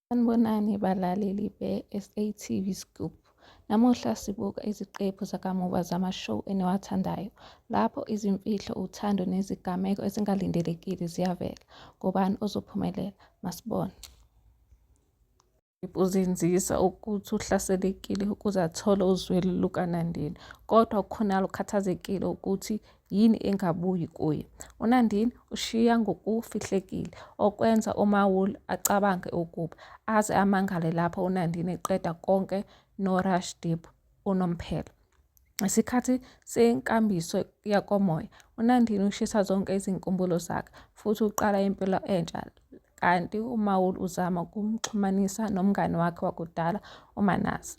Sanibonani balaleli be-SATV Scoop. Namuhla sibuka iziqephu zakamuva zama-show eniwathandayo lapho izimfihlo, uthando nezigameko ezingalindelekile ziyavela. Ngubani ozophumelela? Masibone. Uzinzisa ukuthi uhlaselekile ukuze athole uzwelo lukaNandini kodwa uKhonala ukhathazekile ukuthi Yini engabuyi kuye? UNandini ushiya ngokufihlekile, okwenza uMawul acabange ukuba aze amangale lapho uNandini eqeda konke noRashdeep unomphela. Isikhathi senkambiso yakomoya, uNandini ushisa zonke izinkumbulo zakhe futhi uqala impilo entsha kanti uMawul uzama ukumxhumanisa nomngane wakhe wakudala uManase.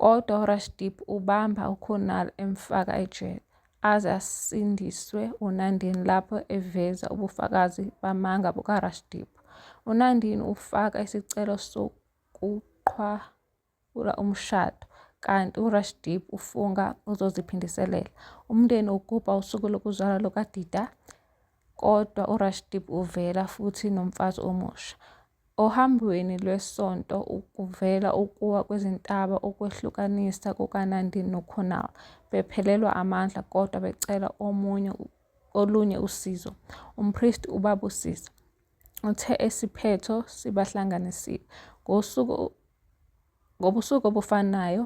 Kodwa uRashdip ubamba uKunal emfaka ejele aze asindiswe uNandini lapho eveza ubufakazi bamanga bukaRashdip. UNandini ufaka isicelo sokuqhwawula umshado kanti uRashdip ufunga uzoziphindiselela. Umndeni ugubha usuku lokuzalwa lukaDida kodwa uRashdip uvela futhi nomfazi omusha. Ohambweni lwesonto kuvela ukuwa kwezintaba okwehlukanisa kukaNandini noKhonal bephelelwa amandla kodwa becela omunye olunye usizo. Umpristi ubabusisa. Uthe isiphetho sibahlanganisile. Ngosuku Ngobusuku obufanayo,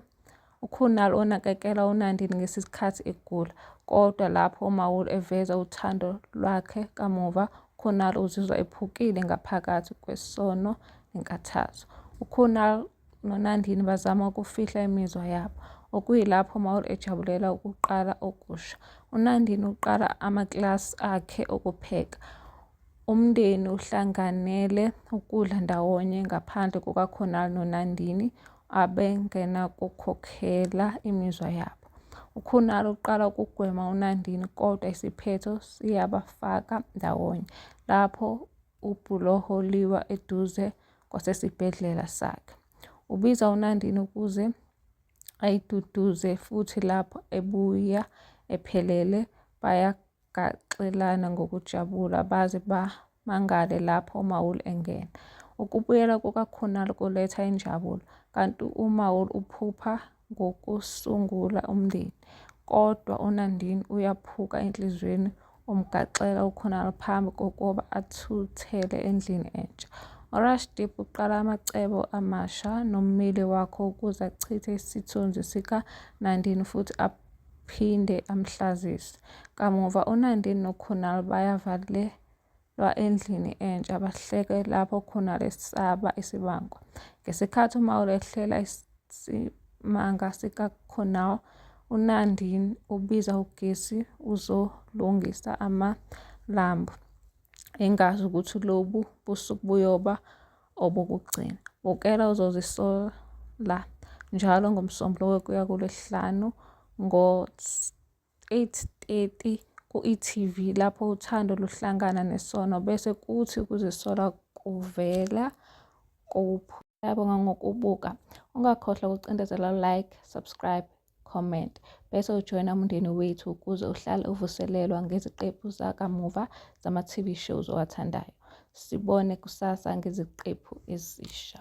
uKunal onakekela uNandini ngesikhathi egula, kodwa lapho uMaul eveza uthando lwakhe kamuva, uKunal uzizwa ephukile ngaphakathi kwesono nenkathazo. UKunal noNandini bazama ukufihla imizwa yabo, okuyilapho uMaul ejabulela ukuqala okusha. UNandini uqala amakilasi akhe okupheka. Umndeni uhlanganele ukudla ndawonye ngaphandle kukaKhonali noNandini abengenakukhokhela imizwa yabo. UKhonali uqala ukugwema uNandini kodwa isiphetho siyabafaka ndawonye lapho ubhuloho liwa eduze kwasesibhedlela sakhe. Ubiza uNandini ukuze ayiduduze futhi lapho ebuya ephelele Gaxelana ngokujabula baze bamangale lapho uMaul engena. Ukubuyela kukaKhunal kuletha injabulo, kanti uMaul uphupha ngokusungula umndeni. Kodwa uNandini uyaphuka enhliziyweni umgaxela uKhunal phambi kokuba athuthele endlini entsha. URashdeep uqala amacebo amasha nommeli wakho ukuze achithe isithunzi sikaNandini futhi phinde amhlazise. Kamuva uNandini noKhunal bayavalelwa endlini entsha bahleke lapho uKhunal esaba isibango. Ngesikhathi uMaul ehlela isimanga sikaKhunal, uNandini ubiza ugesi uzolungisa amalambu engazi ukuthi lobu busuku buyoba obokugcina. Bukela uzozisola njalo ngoMsombuluko kuya kuLwesihlanu ngo-8:30 ku-e.tv lapho uthando luhlangana nesono bese kuthi ukuzisola kuvela kuphi. Yabonga ngokubuka. Ungakhohlwa ukucindezela like, subscribe. comment bese ujoyina umndeni wethu ukuze uhlale uvuselelwa ngeziqephu zakamuva zama-TV shows owathandayo. Sibone kusasa ngeziqephu ezisha.